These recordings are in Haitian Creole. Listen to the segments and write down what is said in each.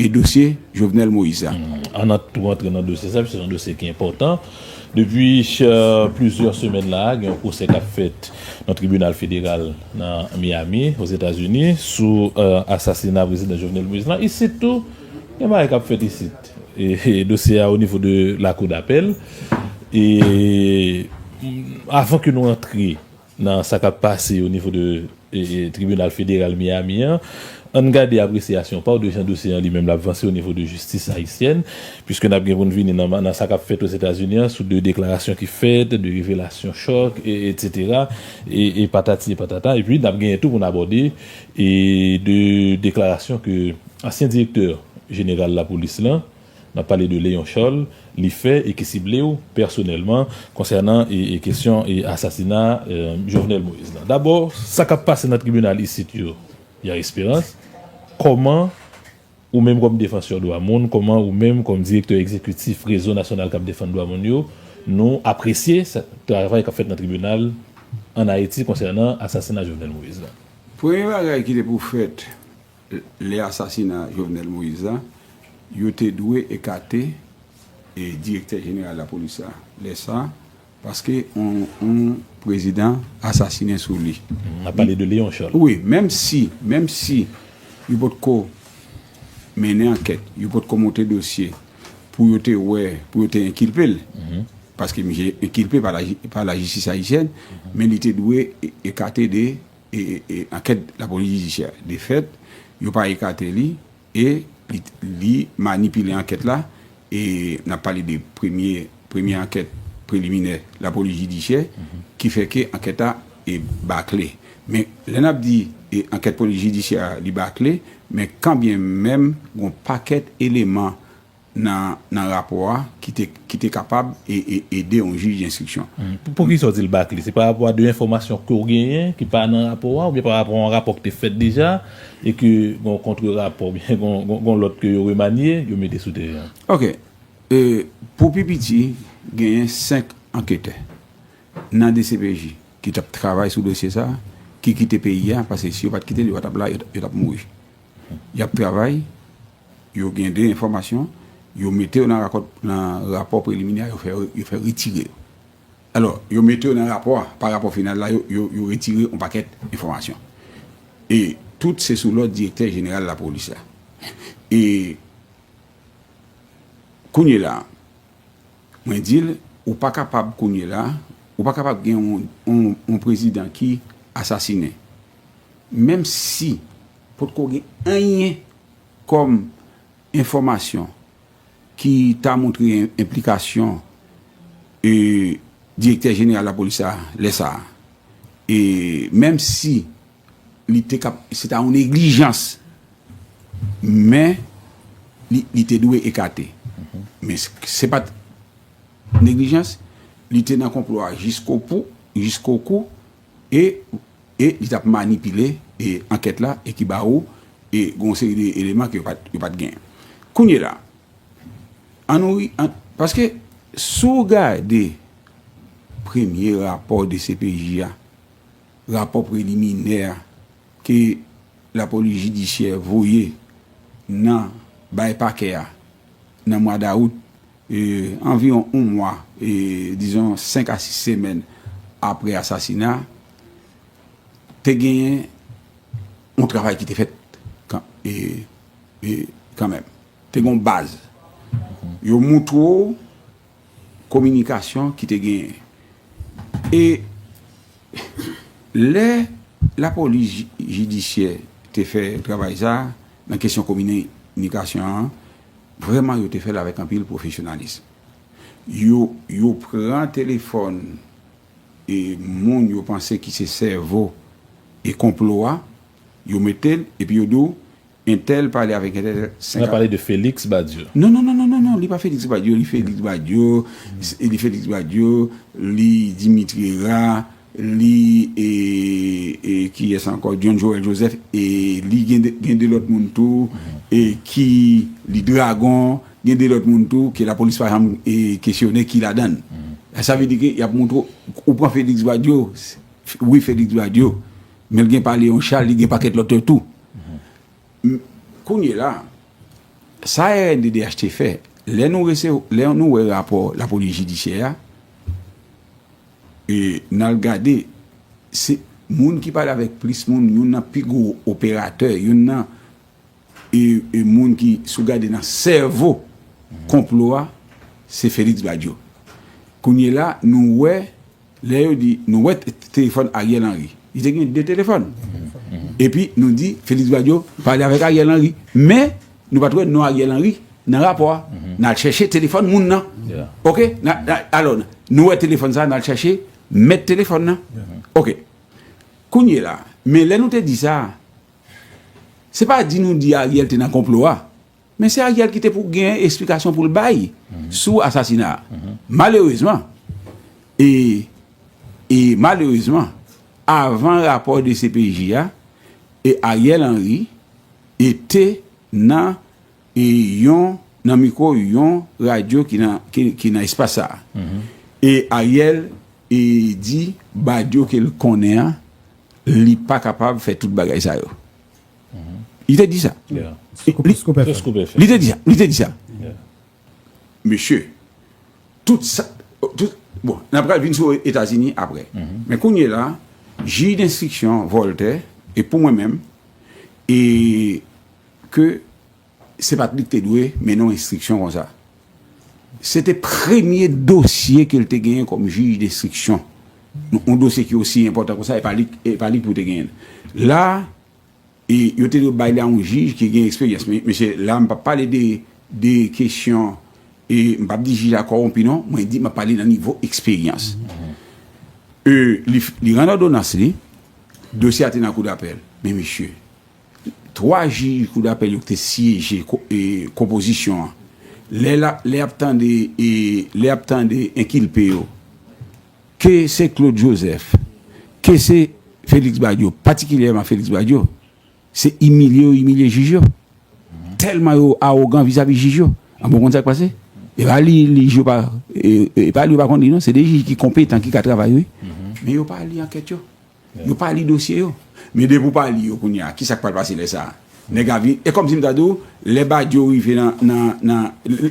E dosye Jovenel Moïse a? An n tou antre nan dosye sa a, se yon dosye ki enpòtan. Depi plizyè semèn la a, gen yon pwosè k ap fèt nan tribinal federal nan Miami, Ozetazini, sou asasina prezidan Jovenel Moïse la. Isit tou, gen bagay k ap fèt isit. Dosye a onivo de lakou dapèl. E avan ke nou antre Nan sa k ap pase o nivo de tribinal federal Miami an, an n gade apresyasyon pa w de jan dosye an li menm l ap vanse o nivo de jistis ayisyèn, piske n ap gen pou n vini nan sa k ap fèt Ozetazini an sou de deklarasyon ki fèt, de revelasyon chòk, etsetera, e patati e patata. Epi, n ap genyen tou pou n abòde de deklarasyon ke ansyen direktè jeneral lapolis lan, N ap pale de Léon Charles, li fè e ki sible w pèsonèlman konsènan e kesyon e asasina Jovenel Moïse lan. Dabò, sa k ap pase nan tribinal isit yo, Ya Esperans, kòman ou menm kòm defansè dwa moun, kòman ou menm kòm direktè egzekitif Rezo Nasyonal k ap Defann Dwa Moun yo, nou apresye travay k ap fèt nan tribinal ann Ayiti konsènan asasina Jovenel Moïse lan? Premye bagay ki te pou fèt, Lè asasina Jovenel Moïse la, yo te dwe ekate direktè jeneral lapolis la lè sa a, paske yon prezidan asasinen sou li. M ap pale de Léon Charles. Wi, menm si, menm si yo potko mennen ankèt, yo potko monte dosye pou yo te wè, pou yo te enkilpe l, paske misye enkilpe pa lajistis ayisyèn, men li te dwe ekate de. Ankèt lapolis jidisyè de fèt yo pa ekate li e li manipile ankèt la e n ap pale de premye premye ankèt preliminè lapolis jidisyè ki fè ke ankèt la bakle men lè n ap di ankèt polis jidisyè li bakle men kanbyen menm gon pakèt eleman nan nan rapò a ki te ki te kapab e e ede yon jij denstriksyon. Poukisa w di l bakle? Se parapò a de enfòmasyon ke w genyen ki pa nan rapò a oubyen parapò a yon rapò ki te fèt deja e ke gen yon kontre rapò oubyen gen yon gen yon lòt ke yo remanye yo mete sou teren an? Ok. E pou pi piti genyen 5 anketè nan dcpj ki t ap travay sou dosye sa a ki kite peyi a paske si yo pa t kite l yo pa t ap la yo t ap mouri. Y ap travay, yo gen de enfòmasyon, yo mete yo nan rakòt, nan rapò preliminè a, yo fè, yo fè retire yo. Alò, yo mete yo nan rapò a, pa rapò final la, yo, yo, yo retire yon pakèt enfòmasyon. E tout se sou lòd direktè jeneral lapolis la. E kounyela a, mwen di l, ou pa kapab kounyela a, ou pa kapab gen yon, yon, yon prezidan ki asasinen. Menm si potko gen anyen kòm enfòmasyon ki ta montre enplikasyon direktè jeneral lapolis sa a lè sa a, e menm si li te ka, se ta yon neglijans, men li te dwe ekate. Men se pa t neglijans, li te nan konplo a jiskopou, jiskokou. e e li t ap manipile e ankèt la e ki ba ou e gen yon seri de eleman ke yo pa yo pa t genyen kounyela an nou ri an paske si w gade premye rapò dcpj a rapò preliminè a ke lapolis jidisyè voye nan bay pakè a nan mwa dawout Anviwon yon mwa, dizon 5 a 6 semèn apre asasina a, te genyen yon travay ki te fèt kanmenm. Te gen yon baz. Yo moutre w kominikasyon ki te genyen. E lè lapolis jidisyè te fè travay sa a nan kesyon kominikasyon an, Vrèman yo te fè l avèk anpil pwofesyonalis. Yo yo pran telefòn e moun yo panse ki se sèvo e konplo a, yo mete l epi yo di w entèl pale avèk entèl 5 Nap pale de Félix Badio. Non non non non non li pa Félix Badio li Félix Badio li Félix Badio li Dimitri Hera. Li e kiyes anko John Joel Joseph e li gen de lot moun tou e ki li dragon gen de lot moun tou ke la polis pa janm e kesyone ki ladann. Sa vle di ke yap montre w, ou pran Felix Badio wi Felix Badio men li gen pa Leon Charles li gen paket lot yo tou. Kounye la sa rnddh te fè lè nou wè rapò la polis jidisyè a. E n al gade, se moun ki pale avèk plis moun, youn nan pi gwo operatè, youn nan e moun ki, si w gade nan sèvo konplo a, se Félix Badio. Kounyela a, nou wè, lè yo di, nou wè telefòn Ariel Henry. Li te gen de telefòn. Epi nou di, Félix Badio pale avèk Ariel Henry. Men. Nou pat wè non Ariel Henry nan rapò a, nal chèche telefòn moun nan ok, alò nou wè telefòn sa nal chèche mèt telefòn nan ok, kounyela men lè nou te di sa se pa di nou di Ariel te nan konplo a men se Ariel ki te pou gen esplikasyon poul bay sou asasina a malerezman e e malerezman avan rapò de CPJ a e Ariel Henry. e te nan e yon nan mikwo yon radyo ki nan ki nan espas sa a. E Ariel e di Badio ke l konnen an li pa kapab fè tout bagay sa yo. Li te di sa. Li te di sa. Li te di sa. Mesye, tout sa, tout, bon, n apral vin sou Etazini apre. Men kounye la, jij denstriksyon Vòltè, e pou mwen menm, e ke se pa t li k te dwe mennen yon enstriksyon kon sa. Se te premye dosye ke l te genyen kòm jij denstriksyon. Yon dosye ki osi enpòtan kon sa, e pa li k pou te genyen l. La. E yo te dwe bay li a yon jij ki gen eksperyans. Men mesye, la m pa p pale de de kesyon e m pa p di jij la kowonpi non, mwen di m ap pale nan nivo eksperyans. E li li rann òdonans li, dosye a te nan koudapèl. Men mesye, 3 jij koudapèl yo ki te syeje e konpozisyon an, lè lap lè y ap tande e lè y ap tande enkilpe yo, Ke se Claude Joseph, ke se Félix Badio, patikilyèman Félix Badio, se imilye yo imilye jij yo. Tèlman yo awogan vizavi jij yo. Anben ou konn sa k pase? E pa li jij yo pa, e pa li yo pa konn li non, se de jij ki konpetan ki ka travay wi. Men yo pa li ankèt yo. Yo pa li dosye yo. Men depi ou pa li yo kounye a, ki sa k pral pase lè sa a? Nèg a vin, e kòmsi m ta di ou, lè Badio rive nan, nan, nan,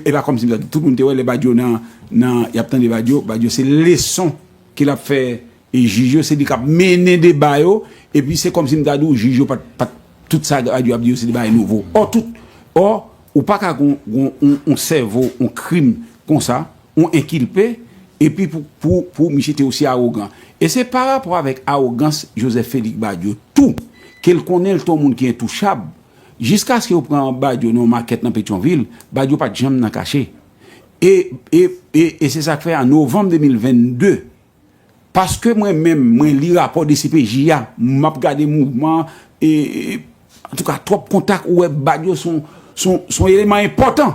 e pa kòmsi m ta di ou, tout moun te wè lè Badio nan, nan, y ap tande Badio, Badio se leson ke l ap fè jij yo, se li k ap mennen deba yo, epi se kòmsi m ta di ou jij yo pa t, pa t, tout sa Badio ap di yo se de bagay nouvo. Ò tout, ò, ou pa ka gen yon, yon, yon sèvo, yon krim konsa. ou enkilpe epi pou misye te osi arogan. E se pa rapò avèk arogans Joseph Félix Badio tou ke l konnen l te yon moun ki entouchab jiskaske yo pran Badio nan yon makèt nan Petyonvil, Badio pa t janm nan kache. E se sa k fè an novanm 2022, Paske mwen menm mwen li rapò dcpj a map gade mouvman e antouka twòp kontak ou wè bad yo son eleman enpòtan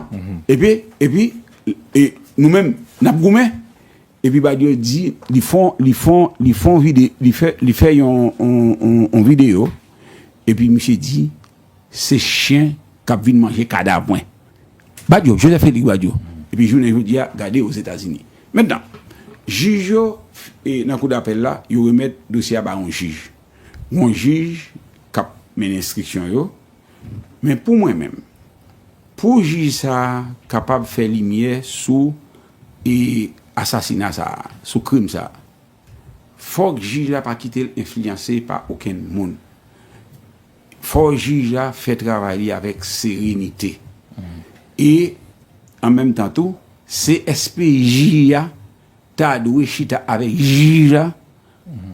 epi epi e nou menm nap goumen epi bad yo di li fon li fon li fon vide li fè li fè yon yon videyo epi misye di. Se chyen kap vin manje kadav mwen. Badio, Joseph Félix Badio, epi jounen jodi a gade Ozetazini. Mentnan, jij yo nan kou dapèl la, yo remèt dosye a ba yon jij. Yon jij kap mennen enstriksyon yo. Men pou mwen menm, pou jij sa a kapab fè limyè sou asasina sa a, sou krim sa a, fòk jij la pa kite l enfliyanse pa okenn moun. Fò jij la fè travay li avèk serenite e an menm tan tou CSPJ a ta dwe chita avèk jij la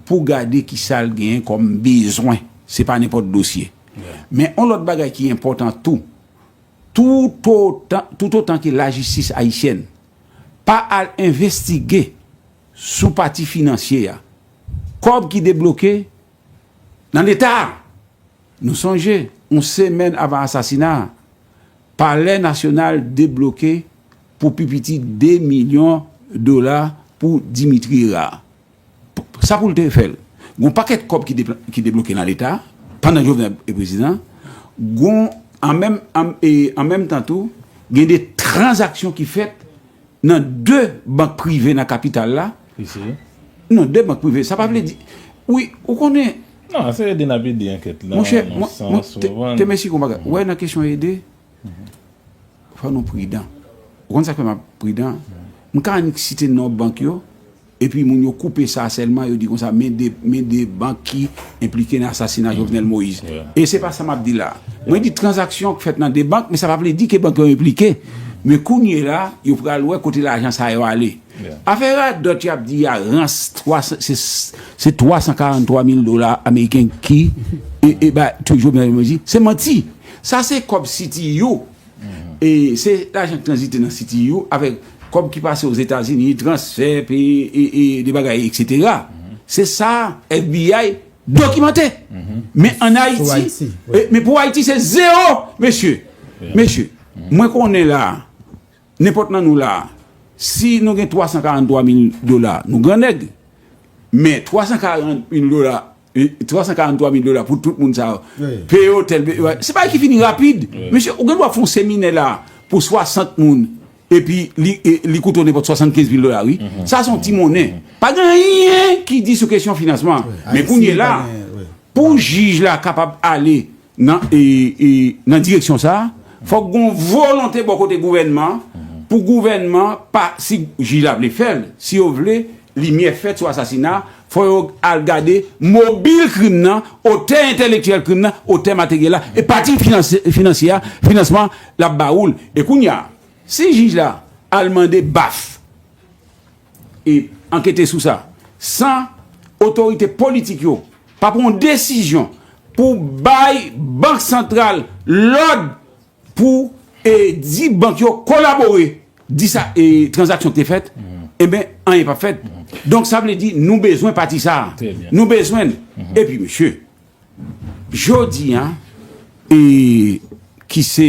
pou gade ki sa l genyen kòm bezwen, se pa nenpòt dosye. Men yon lòt bagay ki enpòtan tou, toutotan ke lajistis ayisyèn pa al envestige sou pati finansye a, kòb ki debloke, Nan leta a! Nou sonje, yon semèn avan asasina a, Palè Nasyonal debloke pou pi piti 2 milyon dola pou Dimitri Herard. Sa pou l te fè l? Gon pakèt kòb ki debloke nan leta pandan Jovenel te prezidan. Gon, an menm tan tou, gen de tranzaksyon ki fèt. Nan 2 bank prive nan kapital la. Isi. Nan 2 bank prive. Sa pa vle di. Wi, ou konnen. Nan, se ede n ap ede ankèt lan. Monchè, mwen te mèsi konpa. Ou wè nan kesyon ede, fò nou pridan. Ou konn sa k fè m ap pridan? M ka annik site non bank yo. Epi moun yo koupe sa sèlman, yo di konsa men 2 men 2 bank ki enplike nan asasina Jovenel Moïse. E se pa sa m ap di la a. Mwen di tranzaksyon k fèt nan 2 bank, men sa pa vle di ke bank yo enplike. Men kounye la, yo pral wè kote lajan sa yo ale. Afè radòt y ap di a, rans 3 se se 343 mil dola ameriken ki e e bay Jovenel Moïse, se manti. Sa se kòb CTU. E se lajan k tranzite nan CTU avèk kòb ki pase Ozetazini, transfè, peye de bagay, eksetera. Se sa FBI dokimante. Men an Ayiti, men pou Ayiti se zewo. Mesye, mesye, mwen konnen la, nenpòt nan nou la, si nou gen 343 mil dola, nou gran nèg. Men 340 mil dola 343 mil dola pou tout moun sa yo Peye otèl Se bagay ki fini rapid Mesye ou gen dwa fè yon seminè la pou 60 moun Epi li koute w nenpòt 75 mil dola wi Sa se yon ti monnen Pa gen anyen ki di sou kesyon finansman Men kounye la Pou jij la kapab ale Nan nan direksyon sa a, fòk gon volonte bò kote gouvènman an pou gouvènman pa si jij la vle fè l, si yo vle limyè fèt sou asasina a, fò yo al gade mobil krim nan, otè entèlektyèl krim nan, otè materyèl la e pati finansye a, finansman l ap ba ou l. E kounye a, si jij la al mande baf. e ankete sou sa san otorite politik yo pa pran yon desizyon pou bay bank santral lòd pou e di bank yo kolabore di sa e tranzaksyon ki te fèt enben anyen pap fèt donk sa vle di nou bezwen pati sa nou bezwen l epi mesye jodi a e ki se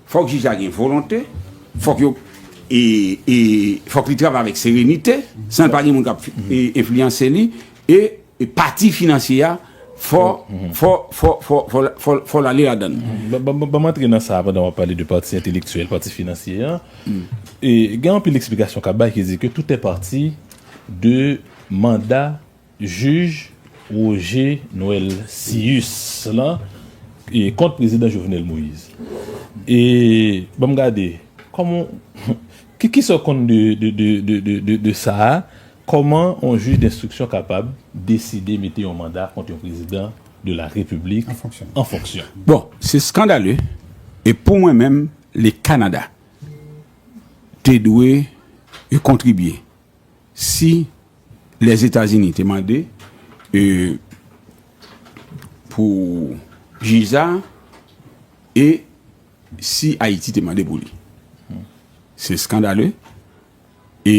Fòk jij la gen volonte, fòk yo e e fòk li travay avèk serenite san l pa gen moun k ap enfliyanse li e pati finansye a fò fò fò fò fò fò fò l ale ladan l. Banm antre nan sa a pandan w ap pale de pati entelektyèl, pati finansye a. E gen anpil eksplikasyon k ap bay ki di ke tout est parti de manda Jij Roger Noël Cius lan kont prezidan Jovenel Moïse. E banm gade, kòman w, kisa w konn de sa a? Kòman yon jij denstriksyon kapab deside mete yon manda kont yon prezidan de la repiblik an fonksyon? Bon, se skandale e pou mwen menm le Kanada te dwe kontribye. Si Lèzetazini te mande pou jij sa a e si Ayiti te mande pou li. Se skandale e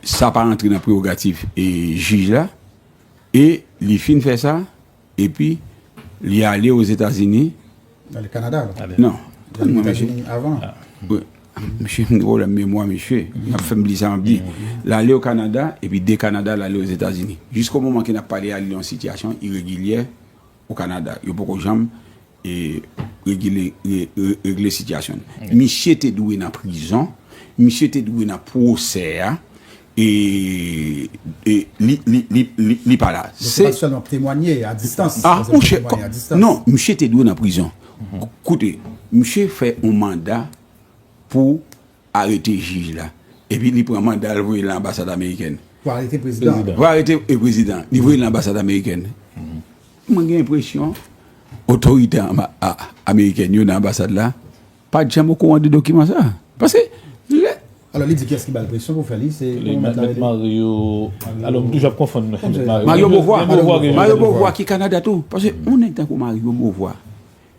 sa pa rantre nan prewogativ jij la e li fin fè sa. Epi, li ale Ozetazini. Li ale Kanada la. Non. Li ale Ozetazini avan. Bon, msye gen pwoblèm memwa msye. N ap fè m bliye sa m ap di. Li ale o Kanada, epi de Kanada li ale Ozetazini. Jisko moman ke n ap pale a, li nan yon sitiyasyon iregilyè o Kanada. Yo poko janm regle sitiyasyon nou misye te dwe nan prizon misye te dwe nan pwosè a e li pa la se pa selman temwanye a distans non misye te dwe nan prizon koute misye fè yon manda pou Arete jij la. Epi li pran manda l voye l nan anbasad amerikèn. Pou arete prezidan an. Pou arete e prezidan an. Li voye l nan anbasad amerikèn. Mwen gen enpresyon otorite amerikèn yo nan anbasad la pa t janm okouran de dokiman sa a. Paske lè. Alò li di kiyès ki ba l presyon pou fè li? Se kòman mèt la rele? Mèt Mario. Alò m toujou ap konfonn mèt Mario. Mario Bovwa. Mario Bovwa ki Kanada tou. Paske yon nèg tankou Mario Bovwa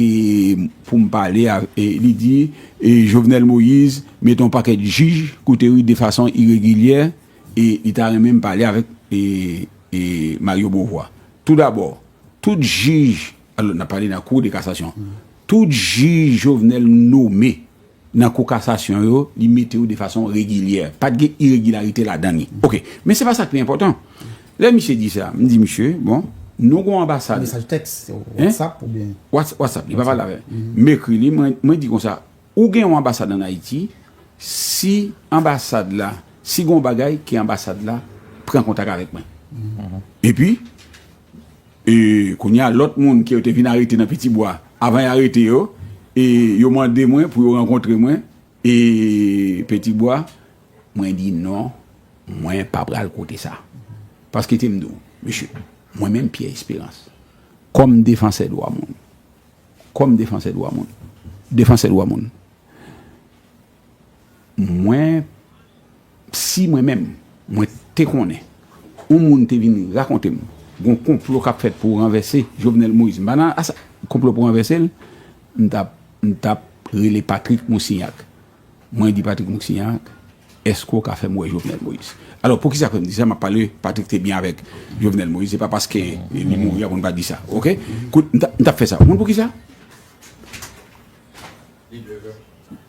E pou m pale a li di e Jovenel Moïse mete yon pakèt jij kote wi de fason iregilyè e li ta renmen m pale avèk e Mario Beauvoir. Tou dabò, tout jij, alò n ap pale nan kou de kasasyon, tout jij Jovenel nome Nan kou kasasyon yo, li mete yo de fason regilyè. Pa t gen iregilarite ladan li. Ok. Men se pa sa k pi enpòtan. Lè misye di sa, m di misye, bon, nou gen yon anbasad. Mesaj tèks, Whatsapp oubyen? Whatsapp. Li pa pale avè m. M ekri li, mwen di konsa, ou gen yon anbasad ann Ayiti, si anbasad la, si gen yon bagay, ke anbasad la pran kontak avèk mwen. Epi. E kounye a, lòt moun ke yo te vin arete nan Pitibwa, avan y arete yo, e yo mande mwen pou yo rankontre mwen, e Petibwa, mwen di non, mwen pa pral kote sa. Paske te m di w, mesye, mwen menm Pyè Esperans, kòm defansè dwa moun, kòm defansè dwa moun, defansè dwa moun, Mwen, si mwen menm, mwen te konnen yon moun te vin rakonte m gon konplo k ap fèt pou ranvèse Jovenel Moïse, m pa nan asa, konplo pou ranvèse l, m t ap, m t ap rele Patrick Moussignac. Mwen di Patrick Moussignac, èske w ka fè m wè Jovenel Moïse? Alò, poukisa fè m di sa? M ap pale, Patrick te byen avèk Jovenel Moïse, se pa paske li mouri a pou n pa di sa. Oke? Kout, m t ap fè sa. Ou konn poukisa?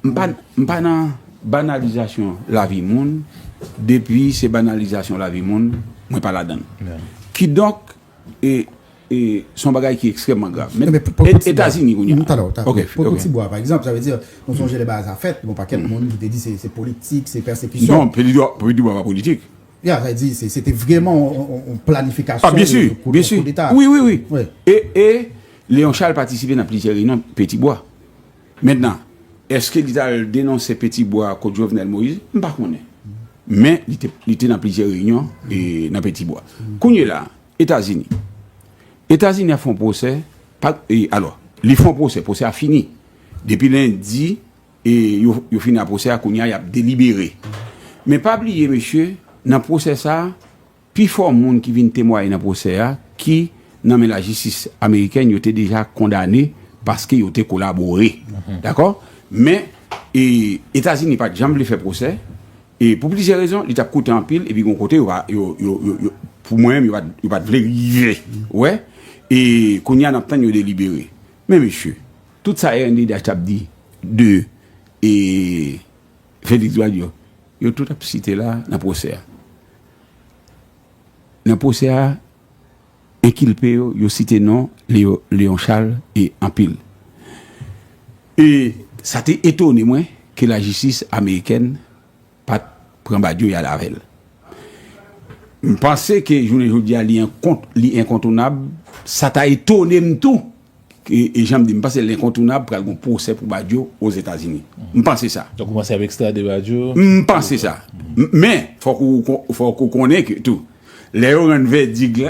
M pa nan banalizasyon lavi moun, depi se banalizasyon lavi moun, mwen pa ladan l. Kidonk, se yon bagay ki ekstrèmman grav. Men, Etazini kounye a. Pou yon ti bwa, pa egzanp, sa vle di, nou sonje lè bagay sa fèt, yon pakèt moun ki te di se politik, se pèsekisyon. Non, pou yon ti bwa pa politik. Ya, sa vle di, se te vreman yon planifikasyon. A, byensi, byensi. Kou deta. Wi, wi, wi. E, e, Leon Charles patisipe nan plizyè reyinyon pou yon ti bwa. Mentnan, eske li t al denonse Peti Bwa kot Jovenel Moïse? M pa konnen. Men, li te nan plizyè reyinyon nan Peti Bwa. Kounyela a, Etazini. Etazini ap fè yon pwosè, alò, li fè yon pwosè, pwosè a fini. Depi lendi, yo fini ak pwosè a, kounyea y ap delibere. Men pa bliye mesye, nan pwosè sa a, Pi fò moun ki vin temwaye nan pwosè a ki nan men lajistis amerikèn yo te deja kondane paske yo te kolabore. Dakò? Men, Etazini pa t janm vle fè pwosè, e pou plizyè rezon, li t ap koute anpil epi gen yon kote yo pa, yo, yo, yo, pou mwen menm yo pa t, yo pa t vle rive. Ou wè? E kounye a n ap tann yo delibere. Men mesye, tout sa Erneud'H t ap di de e. Félix Dwad yo, yo tout ap site la nan pwosè a. Nan pwosè a, enkilpe yo, yo site non Léon Charles e anpil. E sa te etone mwen ke lajistis amerikèn pat pran Badio y al avè l. M panse ke jounen jodi a li enkontounab, sa ta etone m tou E jan m di, m panse lenkontounab pral gon pwosè pou Badio Ozetazini. M panse sa. Donk ou panse y ap ekstrade Badio? M panse sa. Men, fòk ou konnen ke tou, lè yo rann vèdik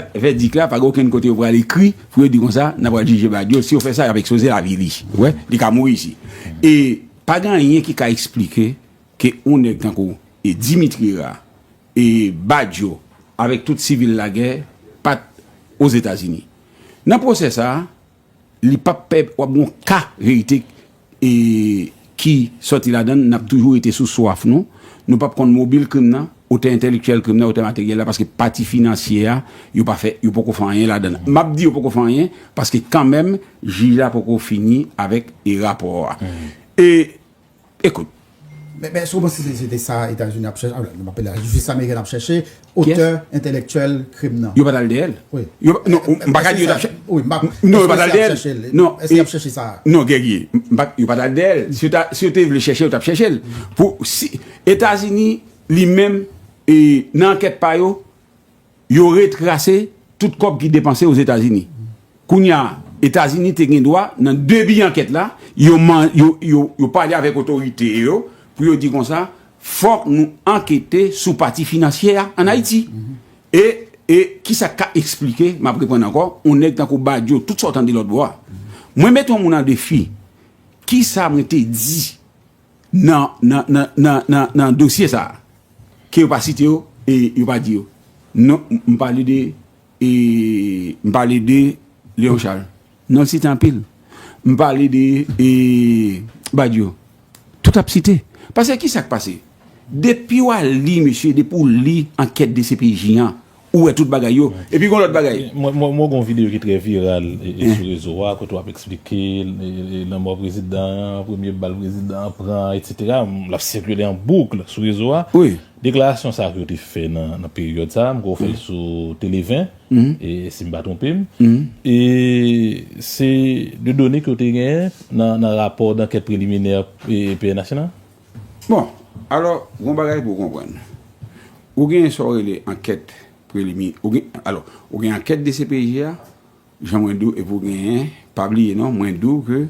la, pa gen okenn kote yo pral ekri pou yo di konsa, n ap pral jije Badio. Si yo fè sa, y ap ekspoze lavi li. Ou wè? Li ka mouri isi. E pa gen anyen ki ka esplike ke yon nèg tankou Dimitri Ra e Badio avèk tout sivil lagè pa t Ozetazini. Nan pwosè sa a, li pap pè wap gon ka verite ki sòti ladan l, nap toujou rete sou swaf nou, nou pap konn mobil krim nan, otè entèlektyèl krim nan, otè materyèl la, paske pati finansye a, yo pa fè, yo poko fè anyen ladan l. Map di yo poko fè anyen, paske kanmenm jij la poko fini avèk rapò a. E. Ekout. Men èske ou panse se se te sa Etazini ap chèche, m ape l lajistis amerikèn ap chèche, otè entèlèktyèl krim nan? Yo pa t al dèyè l. Wi. Non, m pa ka di yo t ap chèche. Wi, m pa. Non, yo pa t al dèyè l. Èske y ap chèche l? Non. Èske y ap chèche sa a? Non, Guerrier. M pa. Yo pa t al dèyè l. Si yo te vle chèche l, yo t ap chèche l. Pou si Etazini li menm nan ankèt pa yo, Yo retrase tout kòb ki depanse Ozetazini. Kounye a, Etazini te gen dwa, nan debi ankèt la, yo pale avèk otorite yo pou yo di konsa, fòk nou ankete sou pati finansyè a ann Ayiti. E ki sa k ka esplike, m ap reprann ankò, yon nèg tankou Badio, tout sa w tande lòtbò a. Mwen mete yon moun an defi, ki sa mwen te di nan nan nan nan nan nan dosye sa a ke yo pa site yo e yo pa di yo non m pale de e m pale de Leon Charles non l site anpil m pale de e Badio tout ap site pase ki sa k pase depi w al li mesye depi w li ankèt dcpj an Ou wè tout bagay yo. Epi gon lòt bagay. Mwen wè gon videyo ki trè viral sou rezo a kote wap eksplike lanmò prezidan an, premye bal prezidan an pran etc. Lap sikile an boukl sou rezo a. Deklarasyon sa yo te fè nan peryòd sa a, m kwè ou fè l sou Tele 20 si m pa twonpe m. E se de done ke w te genyen nan rapò dankèt preliminè pnh lan? Bon, alò, gon bagay pou w konprann. Ou gen sa w rele ankèt prelimi, ou gen, alò, ou gen ankèt dcpj a, jan mwen di w, epi w genyen, pa bliye non, mwen di w ke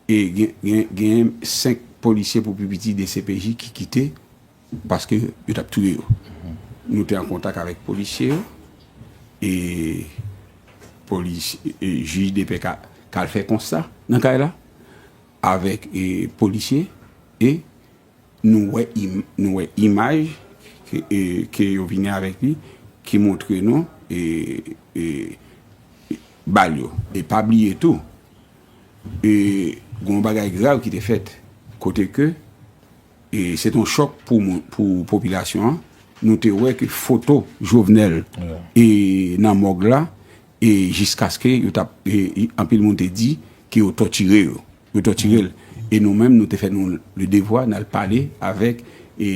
e gen, gen, genyen 5 polisye pou pi piti dcpj ki kite paske yo t ap touye yo. Nou te an kontak avèk polisye yo e polis, jij depè ka, ka al fè konsta nan kay la. avèk polisye e nou wè nou wè imaj ke yo vini avèk li ki montre nou bal yo e pa bliye tou e gon bagay grav ki te fèt kote ke e se ton chòk pou popilasyon an nou te wè ke foto jovenel e nan mòg la E jiskaske yo t ap, e anpil moun te di ke yo tòtire yo, yo tòtire l. E nou menm nou te fè nou le devwa n al pale avèk e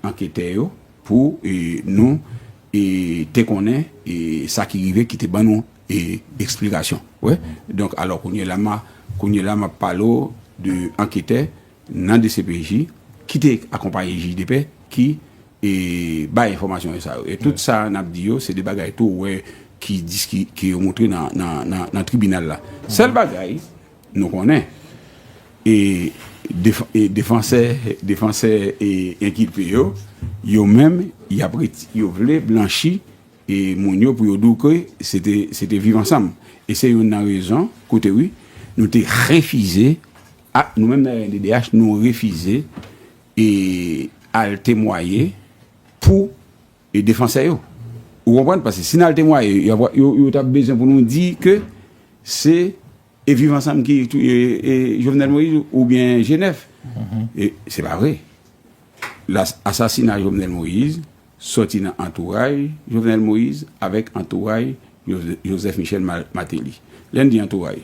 anketè yo pou e nou e te konnen e sa ki rive ki te ban nou e eksplikasyon. Wè? Donk alò kounye la ma, kounye la m ap pale w de anketè nan dcpj ki te akonpaye jij depè ki e bay enfòmasyon sa yo e tout sa n ap di yo se de bagay tou wè ki diski ke yo montre nan tribinal la sèl bagay nou konnen e defansè defansè e enkilpe yo yo menm y ap reti yo vle blanchi e moun yo pou yo di w ke se te se te viv ansanm e se youn nan rezon koute wi nou te refize a nou menm nan rnddh nou refize e al temwaye pou e defansè yo ou konprann pase si nal temwaye yo tap bezwen pou nou di ke se e viv ansanm ki touye e jovenel moïse ou byen jenèf e se pa vre la asasina jovenel moïse sòti nan antouray Jovenel Moïse avèk antouray Joseph Michel Martelly. Lè n di antouray,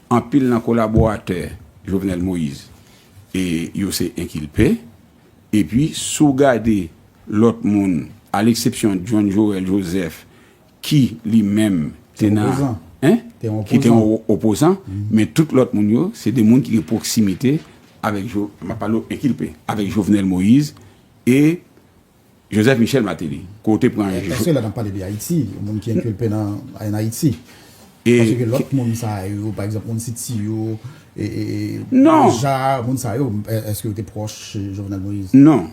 anpil nan kolaboratè Jovenel Moïse yo se enkilpe, epi si w gade lòt moun, a leksepsyon John Joël Joseph ki li menm te nan, ki te yon opozan, men tout lòt moun yo se de moun ki gen pwoksimite avèk, m ap pale w enkilpe, avèk Jovenel Moïse e Joseph Michel Martelly, ke w te pran e. Paske lè n ap pale de Ayiti, moun ki enkilpe nan ann Ayiti. Paske gen lòt moun sa yo, pa egzanp moun City yo, e, e, e, Boulja, moun sa yo, èske yo te pwòch Jovenel Moïse? Non.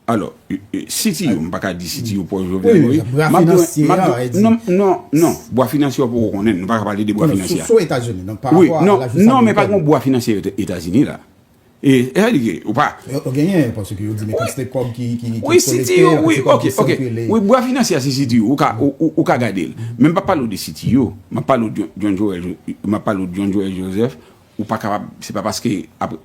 Alò, City yo, m pa ka di City yo pwòch Jovenel Moïse. Wi, bwa finansye a, ou e di. Non, non, non. Bwa finansye a ou poko konnen, nou pa ka pale de bwa finansye a. Sou Etazini, non, pa rapò a la jistis amerikèn. Non, non, men pa gen yon bwa finansye Etazini la. E sa li ye ou pa. Yo genyen yo paske yo di men kantite kob ki kolekte yo kantite kob ki sikile. Wi bwa finansye a se CTU ou ka gade l. Men m pa pale w de CTU m ap pale w de John Joel m ap pale w de John Joel Joseph ou pa kapab se pa paske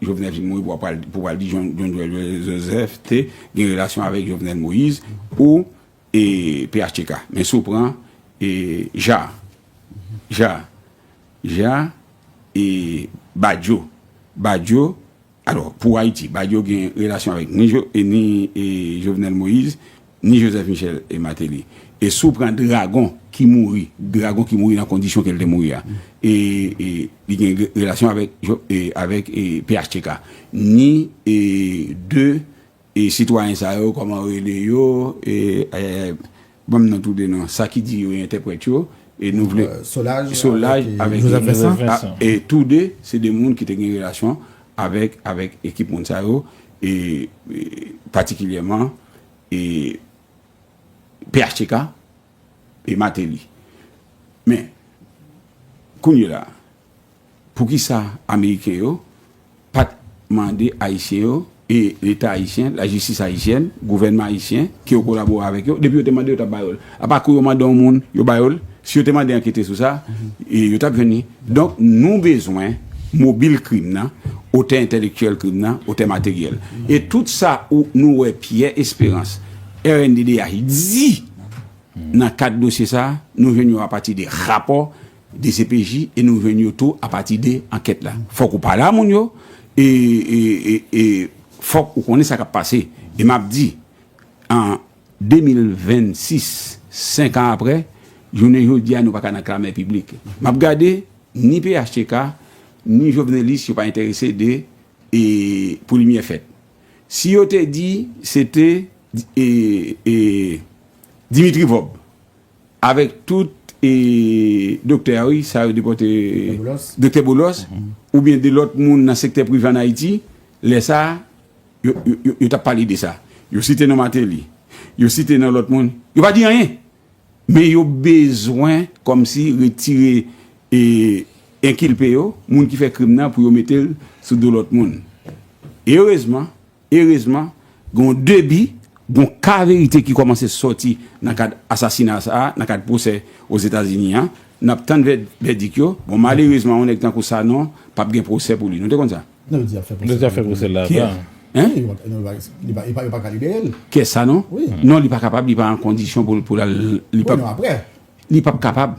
Jovenel fin mouri pou w pral di John Joel Joseph te gen relasyon avèk Jovenel Moïse ou phtk. Men si w pran Jaar Jaar Ja e Badio. Badio, alò, pou Ayiti, Badio gen relasyon avèk ni Jovenel Moïse, ni Joseph Michel e Martelly. E si w pran Dragon ki mouri, Dragon ki mouri nan kondisyon ke l te mouri a, e li gen relasyon avèk phtk. Ni de E sitwayen sa yo koman rele yo e ayayay banm non tou 2 non sa ki di yo entèprèt yo e nou vle solaj avèk joseph vincent e tou 2 se 2 moun ki te gen relasyon avèk avèk ekip moun sa yo e patikilyèman e phtk e mateli men kounye la Poukisa ameriken yo pat mande ayisyen yo e leta ayisyen, lajistis ayisyèn, gouvènman ayisyen ke yo kolabore avèk yo, depi yo te mande yo tap ba yo l. Apa kou yo mande yon moun, yo ba yo l, si yo te mande ankete sou sa, yo tap jwenn li. Donk nou bezwen mobil krim nan, otè entèlektyèl krim nan, otè materyèl. E tout sa ou nou wè Pierre Espérance, rnddh di nan kad dosye sa, nou jwenn yo apati de rapò Dcpj e nou jwenn yo tou apati de ankèt la. Fòk ou pale a moun yo e e fòk ou konnen sa kap pase. E map di an 2026, 5 an aprè, jounen jodi a nou paka nan klamè piblik. Map gade ni phtk ni jovenelis yo pa enterese de e pou limyè fèt. Si yo te di se te e e Dimitri Vob. Avek tout e doktè a wi sa yo depote doktè bolos ou byen de lot moun nan sektè prive an ayiti lè sa yo tap pale de sa yo site non mateli yo site non lot moun yo pa di anyen men yo bezwen kom si retire e enkilpe yo moun ki fè krim nan pou yo metel sou do lot moun e erezman Erezman, gen de bi, gen yon ka verite ki kòmanse sòti nan kad asasina sa a, nan kad pwosè Ozetazini an. N ap tann vèdik yo. Bon, malerezman, yon nèg tankou Sanon p ap gen pwosè pou li. Nou te konn sa? Non, yo deja fè pwosè pou li. Yo deja fè pwosè l la avan. Hein? Yo pa ka libere l. Kiyès, Sanon? Wi. Non, li pa kapab, li pa an kondisyon pou l al. Wi, non, aprè. Li p ap kapab.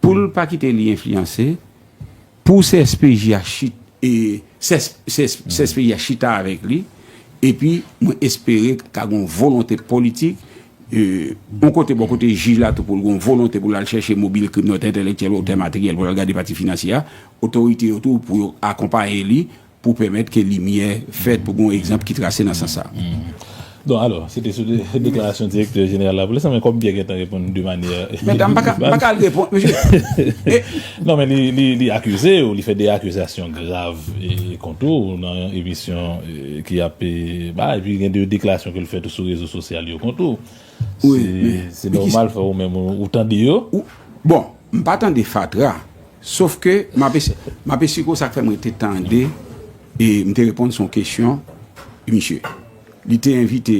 Pou l pa kite li enfliyanse, pou CSPJ a chita avèk li, epi mwen espere ka gen yon volonte politik, yon kote bò kote jij la tou pou l gen yon volonte pou l al chèche mobil krimnòt entèlektyèl otè materyèl pou l al gade pati finansye a, otorite yo tou pou yo akonpaye li pou pèmèt ke limyè fèt, pou gen yon egzanp ki trase nan sans sa a. Don alò, se te sou deklarasyon Direktè Jeneral Lapolis la, men kòm Pyè gentan reponn de manyè. Mèt a, m pa ka, m pa ka al reponn, mesye. Non men li, li akize ou, li fè de akizasyon grav kont ou nan yon emisyon ki ap bay, epi gen de deklarasyon ke l fè tou sou rezo sosyal yo kont ou. Se, se nòmal fè ou menm ou tande yo. Bon, m pa tande fatra. Sof ke m ap eseye, m ap esiko sa k fè m rete tande e m te reponn son kesyon misye. Li te envite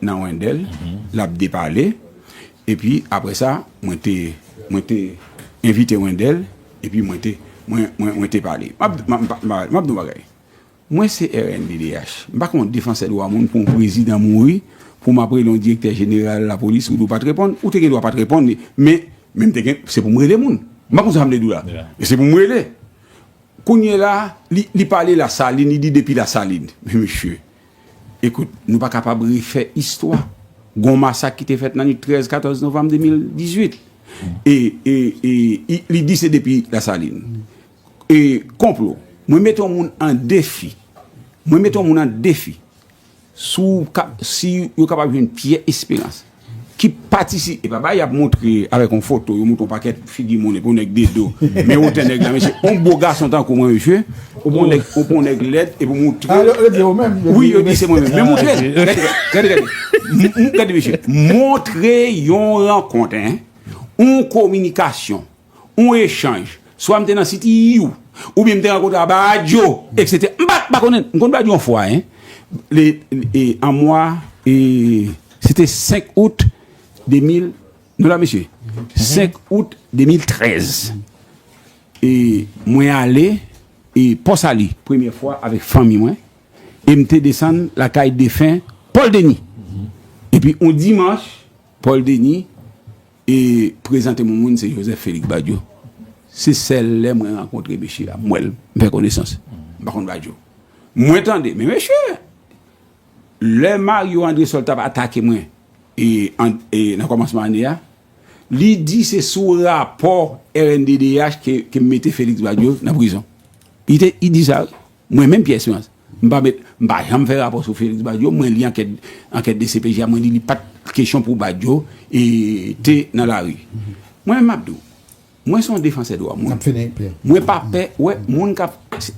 nan Wendel, l ap depale, epi apre sa mwen te, mwen te envite Wendel epi mwen te, mwen, mwen te pale. M ap, m ap, m ap di yon bagay. Mwen se rnddh, m pa konn defansè dwa moun pou yon prezidan mouri pou m ap rele yon direktè jeneral lapolis ou di w pa t reponn, ou te gen dwa pa t reponn li men m te gen, se pou m rele moun. M pa konn sa m vle di w la men se pou m rele. Kounyela li pale Lasalin, li di depi Lasalin. Men mesye, ekout nou pa kapab refè istwa. Gon masak ki te fèt nan nwit 13, 14 novanm 2018 e li di se depi Lasalin. E konplo. Mwen mete yon moun an defi. Mwen mete yon moun an defi. Si yo kapab jwenn Pyè Esperans. Ki patisi. E pa ba y ap montre avèk yon foto. Yo montre yon pakèt figi moun. E pou yon nèg de do. Men wotè nèg la mesye. Yon bo gason tankou mwen mesye. Ou pou yon nèg lèd. E pou montre. A yo di ou menm. Wi yo di se mwen menm. Men montre. Gade gade. Montre yon rankont. Yon kominikasyon. yon echanj, swa m te nan City U, oubyen m te rankontre a Badio, eksetera. M pa konnen, m konn Badio yon fwa, en, le, e, an mwa, e, se te 5 out 2000, nou la mesye? 5 out 2013. E, mwen ale, e, Pò Sali, premye fwa avèk fanmi mwen, e m te desann lakay defen Paul Denis. Epi yon dimanch, Paul Denis. E prezante mwen moun se Joseph Felix Badio. Se sèl lè mwen rankontre mesye a, m wè l, m fè konesans. M pa konn Badio. Mwen tande, men mesye, lè Mario Andresol t ap atake mwen e nan kòmansman ane a, li di se sou rapò rnddh ke m mete Felix Badio nan prizon. Li di sa wi. Mwen menm Pierre Esperance m pa met m pa janm fè rapò sou Felix Badio mwen li ankèt ankèt dcpj a mwen li li pat kesyon pou Badio e te nan lari mwen menm map di w mwen son defansè dwa moun Nap fini Pierre. mwen pa pè wè moun kap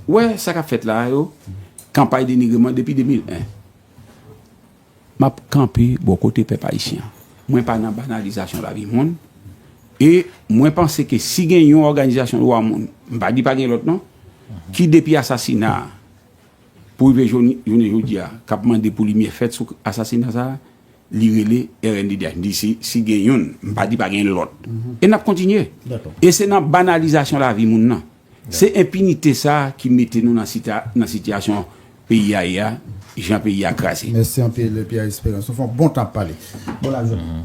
wè sa kap fèt la a yo kanpay denigreman depi 2001 Map kanpe bò kote pèp ayisyen an. Mwen pa nan banalizasyon lavi moun e mwen panse ke si gen yon òganizasyon dwa moun, m pa di pa gen lòt non, ki depi asasina a pou rive jounen jodi a k ap mande pou limyè fèt sou asasina sa a, li rele rnddh. M di si gen youn, m pa di pa gen lòt. E n ap kontinye. E se nan banalizasyon lavi moun nan. Se enpinite sa ki mete nou nan sitiyasyon peyi a ye a, jan peyi a kraze. Mèsi anpil Pierre Esperance. Ou fè yon bon tan ap pale. Bon lajounen.